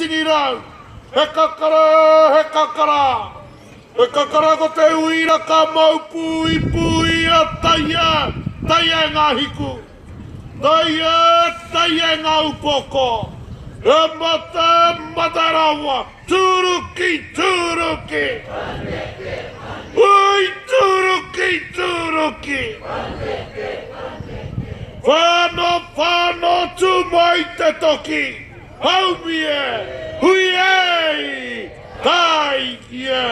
Tini rau, he kakara, he kakara. He kakara ko te uira ka mau pū i pū ia, taia, taia e ngā hiku. Taia, taia e ngā upoko. He mata, mata rawa, tūruki, tūruki. Paneke, paneke. Ui, tūruki, tūruki. Paneke, paneke. Whano, whano, tū mai te toki. Haumi e! Hui e! Kai ki e!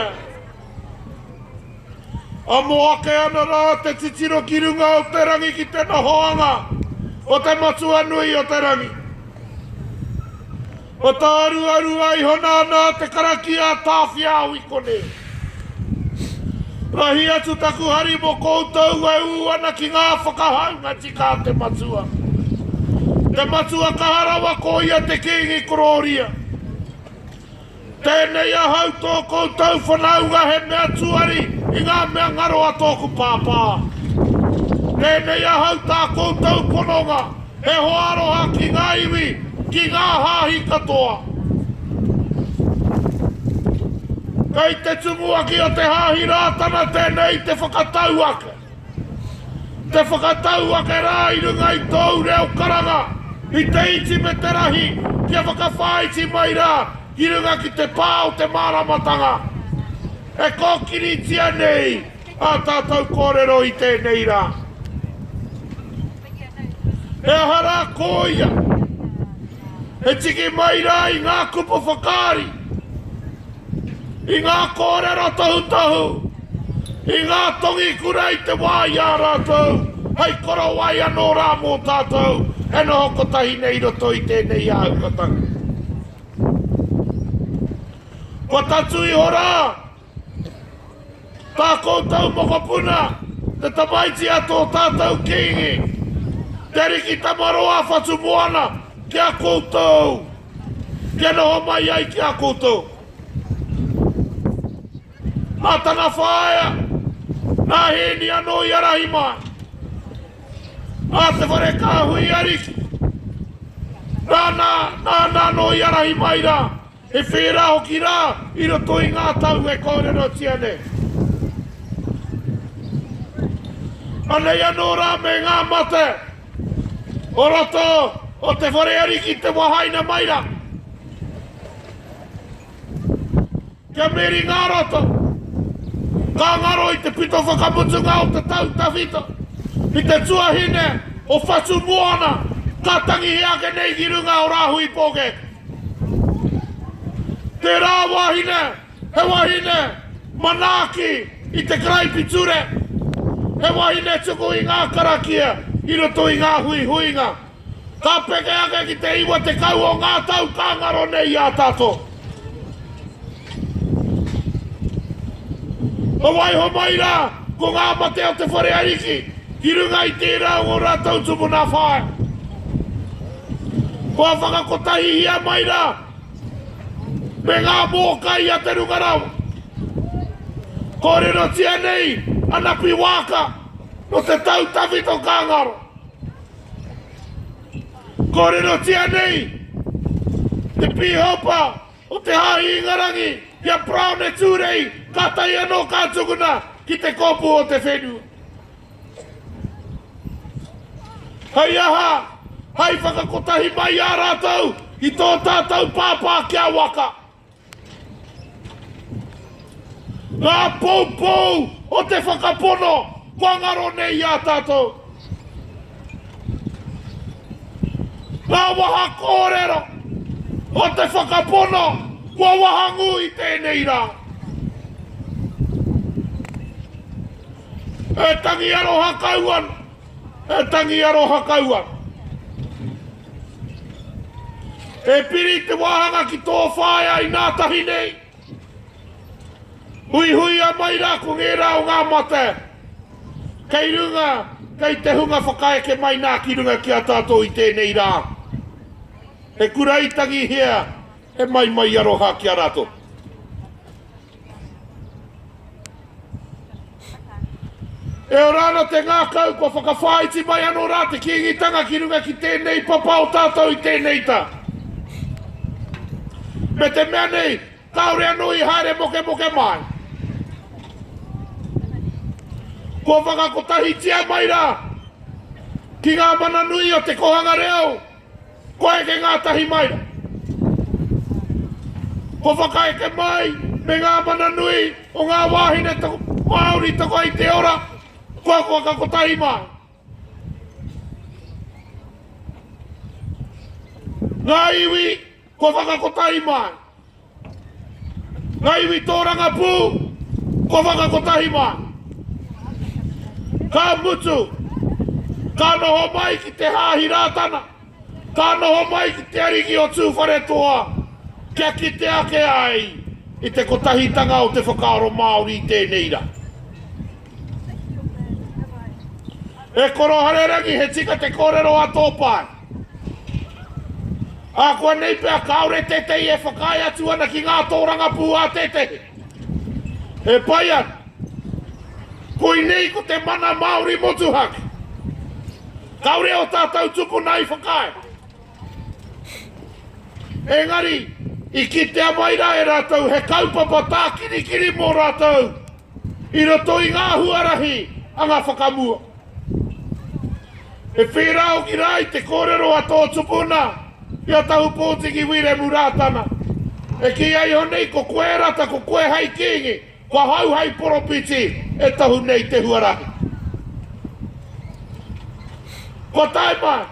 Amo ake ana rā te titiro ki runga o te rangi ki te nohoanga o te matua nui o te rangi. Whataarua rua iho nā nā te karakia a Tāwhiao i konei. Rahi atu taku hari mo koutou e ū ana ki ngā whakahaunga tika a te Matua. Te Matua kaha rawa ko ia te Kīngi korōria. Tēnei ahau tō koutou whanaunga he mea tuari i ngā mea ngaro a tōku Pāpā. Tēnei ahau tā koutou pononga. He hoa aroha ki ngā iwi, ki ngā hāhi katoa. Kei te tumuaki o te Hāhi Rātana tēnei i te whakatau ake. Te whakatau ake rā i runga i tōu reo karanga, i te iti me te rahi kia whakawhāiti mai rā ki runga ki te pā o te māramatanga e kōkiritia nei. Ā tātou kōrero i tēnei rā, he aha rā ko ia e tiki mai rā i ngā kupu whakaari, i ngā kōrero tohutohu, i ngā tongi kura i te wā i a rātou hei korowai anō rā mō tātou e noho kotahi nei i roto i tēnei āhukatanga. Kua tatū iho rā Tā koutou mokopuna, te tamaiti a tō tātou kīngi, Te Ariki Tamaroa Whatumoana, ki a koutou, kia noho mai ai ki a koutou. Nā tana whaea, nā Hēni anō i arahi mai, nā te whare kāhui ariki, nāna, nāna anō i arahi mai rā. He whērā hoki rā i roto i ngā tau e kōrerotia nei. Anei anō rā me ngā mate o roto o te whare ariki te wahaina mai rā. Kia meri ngā roto, ngā ngaro i te pito whakamutunga o te tau tawhito, i te tuahine o Whatu Moana, ka tangihia ake nei ki runga o Rāhui Pōkēkē. Tērā wāhine, he wahine manaaki i te karaipiture, he wahine tuku i ngā karakia i roto i ngā huihuinga. Ka peke ake ki te iwa tekau o ngā tau ka ngaro nei i a tato. Ka waiho mai rā ko ngā mate o te whare ariki ki runga i tērā o ō rātou tupuna whāi. Kua whakakotahihia mai rā me ngā mōkai a te Runga Rawa. Kōrerotia nei a Napi Waaka nō te tau tawhito ka ngaro. Kōrerotia nei te pīhopa O te Hāhi Ingarangi, ki a Brown e Tūrei, kātahi anō ka tukuna ki te kōpū o te whenua. Hei aha, hai whakakotahi mai i a rātou, i tō tātou pāpā kia waka. Ngā poupou o te whakapono kua ngaro nei i a tātou. Ngā waha kōrero o te whakapono kua wahangū i tēnei rā. E tangi aroha kau ana, e tangi aroha kau ana. E piri te wāhanga ki tō whaea i ngā tahi nei. Huihuia mai rā ko ngērā o ngā mate kei runga, kei te hunga whakaeke mai nā ki runga ki a tātou i tēnei rā. He kuraitangihia, he maimai aroha ki a rātou. E ora ana te ngākau kua whakawhāiti mai anō rā te Kīngitanga ki runga ki tēnei papa o tātou i tēnei tau. Me te mea nei, kāore anō i haere mokemoke māi. Kua whakakotahitia mai rā ki ngā mana nui o te kohanga reo Kua eke ngātahi mai, kua whakaeke mai me ngā mana nui o ngā wāhine Māori toko i te ora, kua whakakotahi mai. Ngā iwi Kua whakakotahi mai Nga iwi tōrangapū Kua whakakotahi mai Ka mutu Ka noho mai ki te Hāhi Rātana Ka noho mai ki te Ariki o Tūwharetoa Kia kite ake ai i te kotahitanga o te whakaaro Māori i tēnei ra E koro harerangi he tika te kōrero a tō pae. Ākuanei pea kāore tētehi e whakaae atu ana ki ngā tōrangapū a tētehi. He pai ana. Koinei ko te mana Māori motuhake. Kāore ō tātou tupuna i whakaae. Engari, i kitea mai rā e rātou he kaupapa tākirikiri mō rātou. I roto i ngā huarahi a ngā whakamua. He whērā hoki rā i te kōrero a tō tupuna, i a Tahu Pōtiki Wiremu Rātana. E kī ai iho nei ko koe rata, ko koe hei Kīngi, ko ahau hei poropiti e tohu nei te huarahi. Kua tae mai.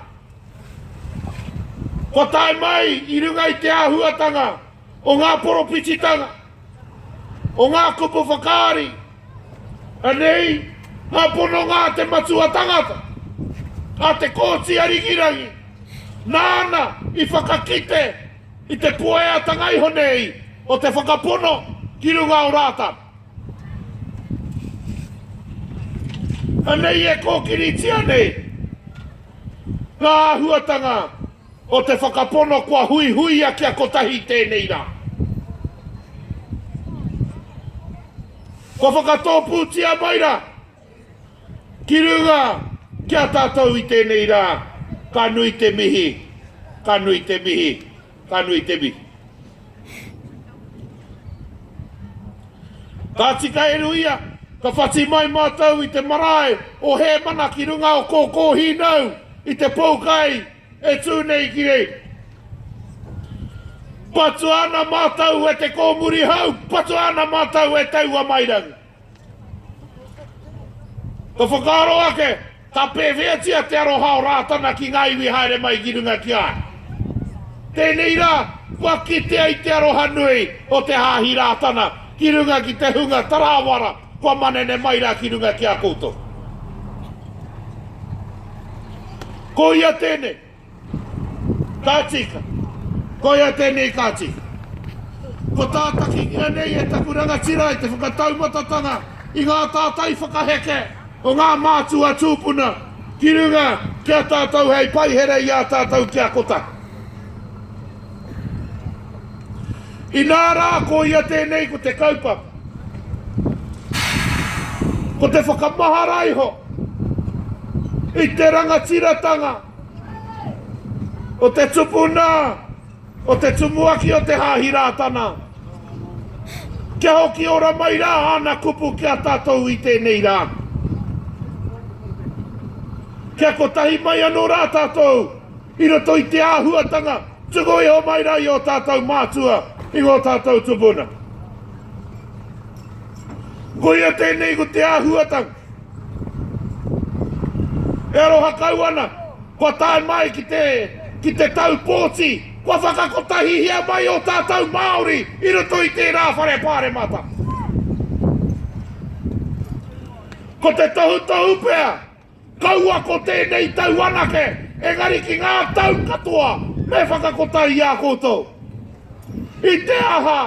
Kua tae mai i runga i te āhuatanga o ngā poropititanga. o ngā kupu whakaari, anei ngā pononga a te matua tangata, a Te Kooti a Rikirangi, nāna i whakakite i te pueatanga iho nei o te whakapono ki runga o Rātana. Anei e kōkiritia nei ngā āhuatanga. o te whakapono kua huihuia kia kotahi i tēnei rā. Kua whakatōpūtia mai rā ki runga ki a tātou i tēnei rā, ka nui te mihi, ka nui te mihi, ka nui te mihi. Ka tika e Ruia, ka whati mai mātou i te marae o Hēmana ki runga o Kōkōhīnau i te poukai e tū nei ki reira. Patua ana mātou e te kōmuri hau, patua ana mātou e taua mairangi. Ka whakaaro ake, ka pēwheatia te aroha o Rātana ki ngā iwi haere mai ki runga ki a ia. Tēnei rā, kua kitea i te aroha nui o te Hāhi Rātana ki runga ki te hunga tarāwara kua manene mai rā ki runga ki a koutou. Ko ia tēnei, Ka tika. Koia tēnei ka tika. Kua tātakingia nei e taku rangatira i te whakataumatatanga i ngā tātai whakaheke o ngā mātua tūpuna ki runga ki a tātou hei paihere i a tātou ki a kotahi. Inā rā koia tēnei ko te kaupapa. Ko te whakamahara iho i te rangatiratanga O te tupuna, o te tumuaki o te Hāhi Rātana. Kia hoki ora mai rā āna kupu ki a tātou i tēnei rā. Kia kotahi mai anō rā tātou i roto i te āhuatanga tuku iho mai rā i ō tātou mātua, i ngō tātou tupuna. Koia tēnei ko te āhuatanga. E aroha kau ana, kua tae mai ki te, ki te tau pōti, kua whakakotahihia mai ō tātou Māori i roto i tērā whare pāremata. Ko te tohutohu pea, kaua ko tēnei tau anake, engari ki ngā tau katoa me whakakotahi i a koutou. I te aha,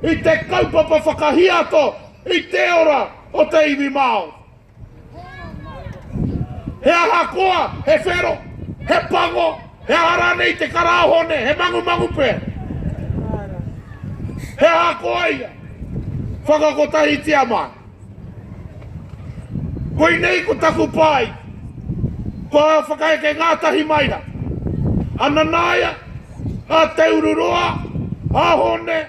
i te kaupapa whakahiato, i te ora, o te iwi Māori. He ahakoa, he whero, he pango, he aha rānei te karāhone, he mangumangu pea. He ahakoa ia, whakakotahitia mai. Koinei ko taku pai, ko au whakaeke ngātahi mai rā. Ananaia, a Te Ururoa, a Hone,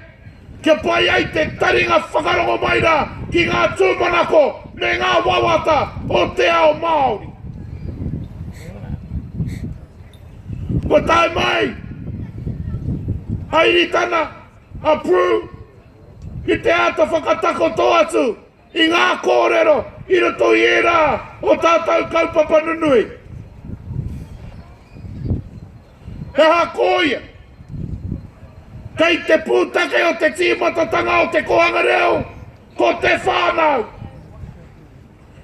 Kia pai ai te taringa whakarongo mai rā ki ngā tūmanako me ngā wawata o te ao Māori. Kua tae mai a Iritana, a Prue, ki te āta whakatakoto atu I ngā kōrero i roto i ērā o tātou kaupapa nunui, he aha kōia? Kei te pūtake o te tīmatatanga o te kōhanga reo ko te whānau.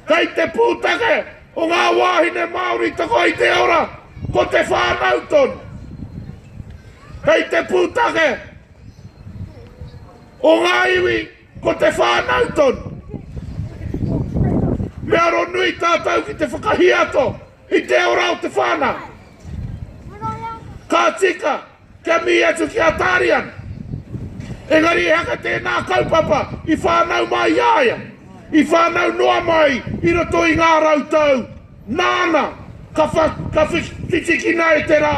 Kei te pūtake o ngā wāhine Māori toko i te ora ko te whānau tonu. Kei te pūtake o ngā iwi. Ko te whānau tonu. Me aro nui tātou ki te whakahiato i te ora o te whānau. Ka tika, kia mihi atu ki a Tarian. Engari ehaka tēnā kaupapa i whānau mai i a ia, i whānau noa mai i roto i ngā rau tau Nāna, ka wha, ka whi, whitikina e te rā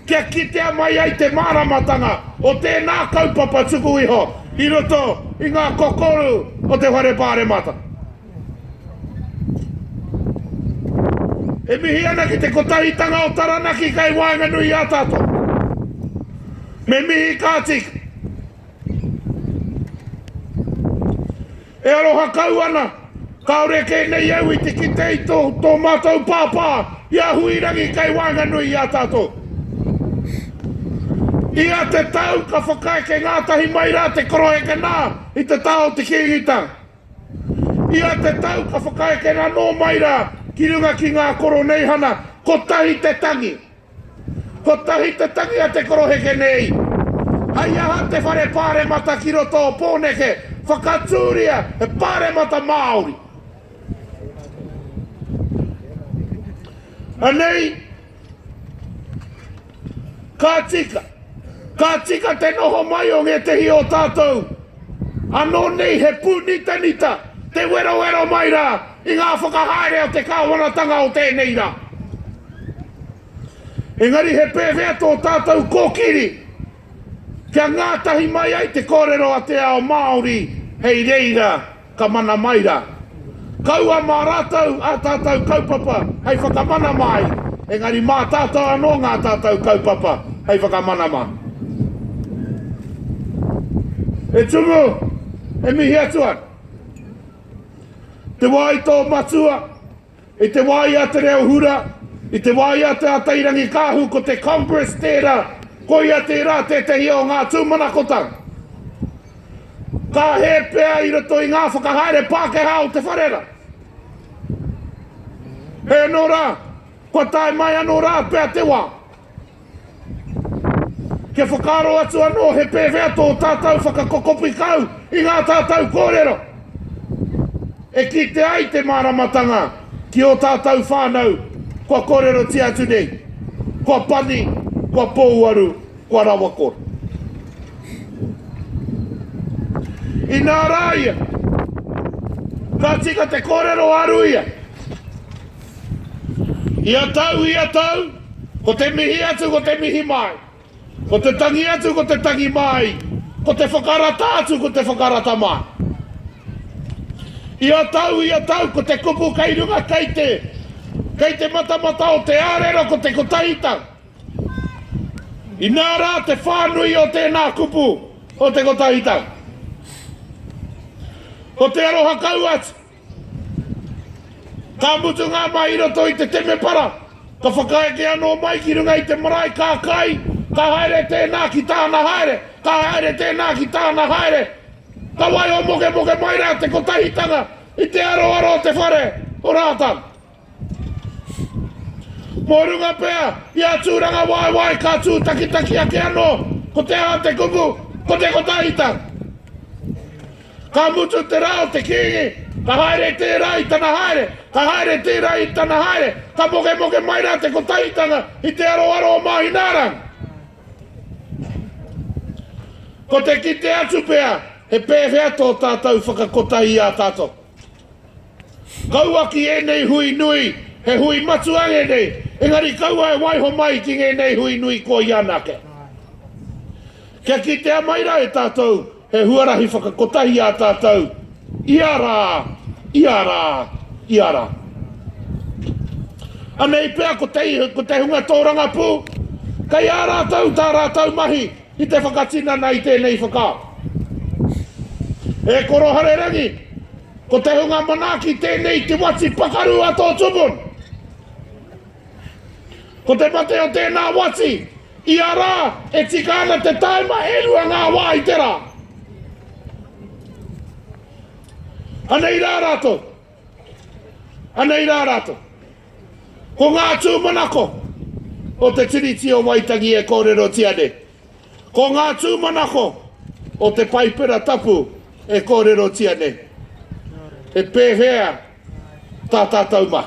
kia kitea mai ai te māramatanga o tēnā kaupapa tuku iho i roto i ngā kokoru o te Whare Pāremata. E mihi ana ki te Kotahitanga o Taranaki kei waenganui i a tātou. Me mihi kāti. E aroha kau ana! Kāore kē nei au i te kite i tō, tō mātou pāpā, i a Huirangi kei waenganui i a tātou. I a te tau ka whakaeke ngātahi mai rā te koroheke nā i te taha o te Kīngitanga. I a te tau ka whakaeke anō mai rā ki runga ki ngā koroneihana kotahi te tangi. Kotahi te tangi a te koroheke nei. Hei aha te whare paremata ki roto o Poneke whakaturia he paremata Maori? Anei ka tika, ka tika te noho mai o ngētehi o tātou anō nei he pūnitanita, te werowero mai rā, I ngā whakahaere a te Kāwanatanga o tēnei rā. Engari he pēwhea tō tātou kōkiri kia ngātahi mai ai te kōrero a te ao Māori hei reira ka mana mai rā? Kaua mā rātou ā tātou kaupapa hei whakamana māi, engari mā tātou anō ngā tātou kaupapa hei whakamana mā. E Tumu, e mihi atu ana. Te wā i tō matua, i te wā i a Te Reo Hura, i te wā i a Te Atairangikaahu ko te Congress tērā, koia tērā tētehi o ngā tūmanakotanga. Ka hē pea i roto i ngā whakahaere Pākehā o te wharera. Heoi anō rā, kua tae mai anō rā pea te wā. Kia whakaaro atu anō he pēwhea tō tātou whakakokopi kau i ngā tātou kōrero e kitea ai te māramatanga ki ō tātou whānau kua kōrerotia atu nei, kua pani, kua pōuaru, kua rawakore. Inā rā ia, ka tika te kōrero a Ruia. Ia tau, ia tau, ko te mihi atu, ko te mihi mai. Ko te tangi atu, ko te tangi mai, ko te whakarata atu, ko te whakarata mai. Ia tau, ia tau, ko te kupu kei runga, kei te, kei te matamata o te arero, ko te kotahi tau. Inā rā te whānui o tēnā kupu o te kotahi tau. Ko te aroha kau atu. Ka mutu ngā mahi i roto i te temepara, ka whakaeke anō mai ki runga i te marae, ka kai, ka haere tēnā ki tāna haere, ka haere tēnā ki tāna haere. Ka waiho mokemoke mai rā te kotahitanga i te aroaro o te whare o Rātana. Mō runga pea i a Tūrangawaewae ka tūtakitaki ake anō ko te aha te kupu, ko te kotahitanga. Ka mutu te rā o te Kīngi, ka haere tērā i tana haere, ka haere tērā i tana haere, ka mokemoke mai rā te kotahitanga i te aroaro o Māhināranga. Ko te kite atu pea he pēwhea tō tātou whakakotahi i a tātou. Kaua ki ēnei hui nui, he hui matua ēnei, engari kaua e waiho mai ki ngēnei hui nui koi anake. Kia kitea mai rā e tātou he huarahi whakakotahi ā tātou ia rā, ia rā, ia rā. Anei pea ko te hunga tōrangapū, kei a rātou tā rātou mahi, Ki te whakatinana i tēnei whakaaro, e Koro Harerangi, ko te hunga manaaki tēnei te wati pakaru a tō tupuna. Ko te mate o tēnā wati, ia rā e tika ana te tāima e rua ngā wā i te rā. Anei rā rātou, Anei rā rātou. Ko ngā tūmanako o te Tiriti o Waitangi e kōrerotia nei. Ko ngā tūmanako o te Paipera Tapu e kōrerotia nei. He pēhea tā tātou mā?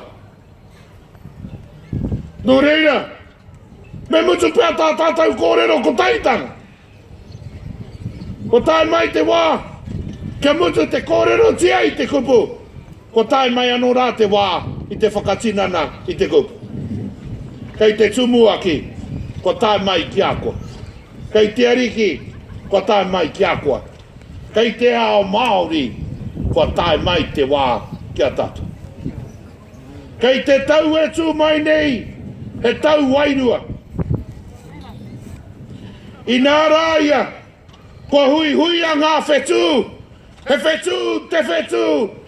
Nō reira. Me mutu pea tā tātou kōrero kotaitanga. Kua tae mai te wā, kia mutu te kōrerotia i te kupu, kua tae mai anō rā te wā i te whakatinana i te kupu. Kei te Tumuaki, kua tae mai ki a koe. Kei te Ariki, kua tae mai ki a koe. Kei te ao Māori, kua tae mai te wā ki a tātou. Kei te tau e tū mai nei, he tau wairua. Inā rā ia, kua huihuia ngā whetū, he whetū te whetū,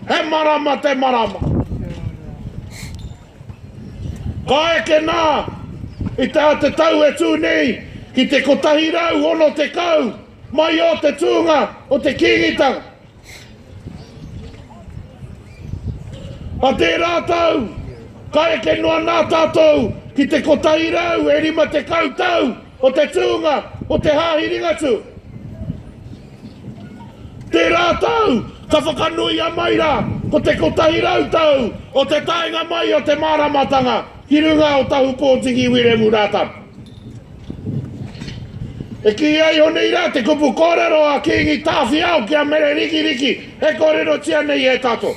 he marama te marama. Ka eke nā, i tā te tau e tū nei, ki te 160 mai ō te tūnga o te Kīngitanga. A tērā tau, ka eke noa nā tātou ki te kotahi rau e rima tekau tau o te tūnga o te Hāhi Ringatū. Tērā tau, ka whakanuia mai rā ko te kotahi rau tau o te taenga mai o te māramatanga ki runga o Tahupōtiki Wiremu Rātana. E kīia iho nei rā te kupu kōrero a Kīngi Tāwhiao ki a Mere Rikiriki e kōrerotia nei e tato.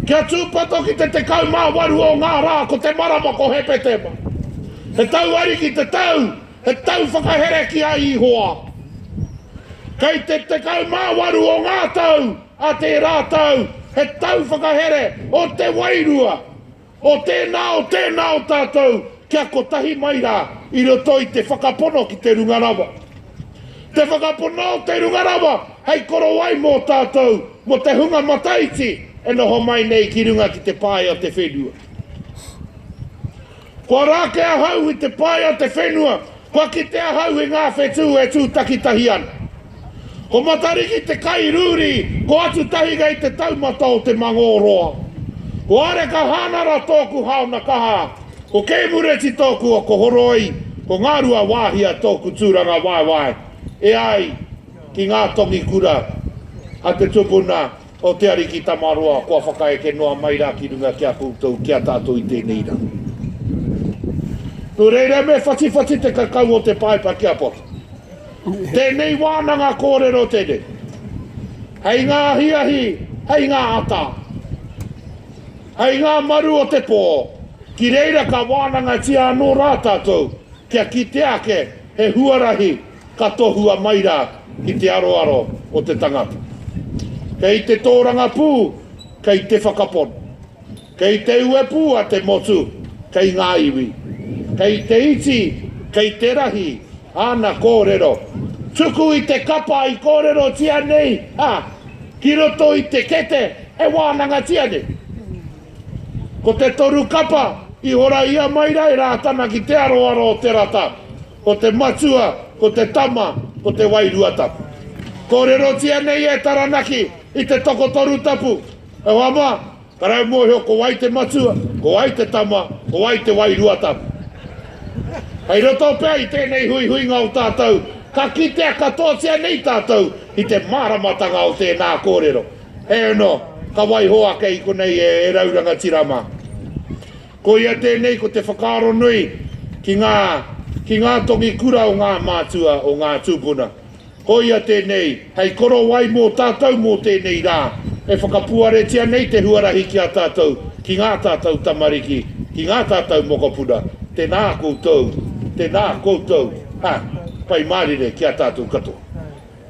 Kia tūpato ki te 18 o ngā rā ko te marama ko Hepetema. He tau ariki te tau, he tau whakahere ki a Ihoa. Kei te 18 o ngā tau a tērā tau, he tau whakahere o te wairua. O tēnā, o tēnā o tātou kia kotahi mai rā i roto i te whakapono ki te Runga Rawa. Te whakapono o te Runga Rawa hei korowai mō tātou, mō te hunga mataiti e noho mai nei ki runga ki te pae o te whenua. Kua rāke ahau i te pae o te whenua, Kua kite ahau i ngā whetū e tū takitahi ana. Ko Matariki te kai rūri, ko Atutahinga i te taumata o te mangō roa. Ko Areka Hānara tōku haona kaha, ko Kei Mureti tōku oko horoi, ko Ngarua Wāhia tōku tūrangawaewae e ai ki ngā tongikura a te tupuna O te Ariki Tamaroa, kua whakaeke noa mai ra ki runga ki a koutou, ki a tatou i tenei ra. No reira me whatiwhati te kakau o te paepa ki a Pota. Tenei wananga korero tenei, hei nga ahiahi, hei nga ata, hei nga maru o te po, ki reira ka wanangatia ano ra tatou, kia kitea ake he huarahi, Ka tohua mai rā ki te aroaro o te tangata. Kei te tōrangapū, kei te whakapono. Kei te uepū a te motu, kei ngā iwi. Kei te iti, kei te rahi āna kōrero. Tuku i te kapa i kōrerotia nei, ā, ki roto i te kete e wānangatia nei. Ko te toru kapa i horaia mai rā e Rātana ki te aroaro o Te Rata. Ko te matua, ko te tama, ko te wairua tapu. Kōrerotia nei e Taranaki i te tokotoru tapu. E hoa mā, ka rae mōhio ko wai te matua, ko wai te tama, ko wai te wairua tapu. Kei roto pea i tēnei huihuinga o tātou, ka kitea katoatia nei tātou i te māramatanga o tēnā kōrero. Heoi anō, ka waiho ake i konei e rau rangatira mā. Koia tēnei ko te whakaaro nui ki ngā ki ngā tongi kura o ngā mātua o ngā tūpuna. Koia tēnei hei korowai mō tātou mō tēnei rā e whakapuaretia nei te huarahi ki a tātou, ki ngā tātou tamariki, ki ngā tātou mokopuna. Tēnā koutou, tēnā koutou, ha, Pai Mārire ki a tātou katoa.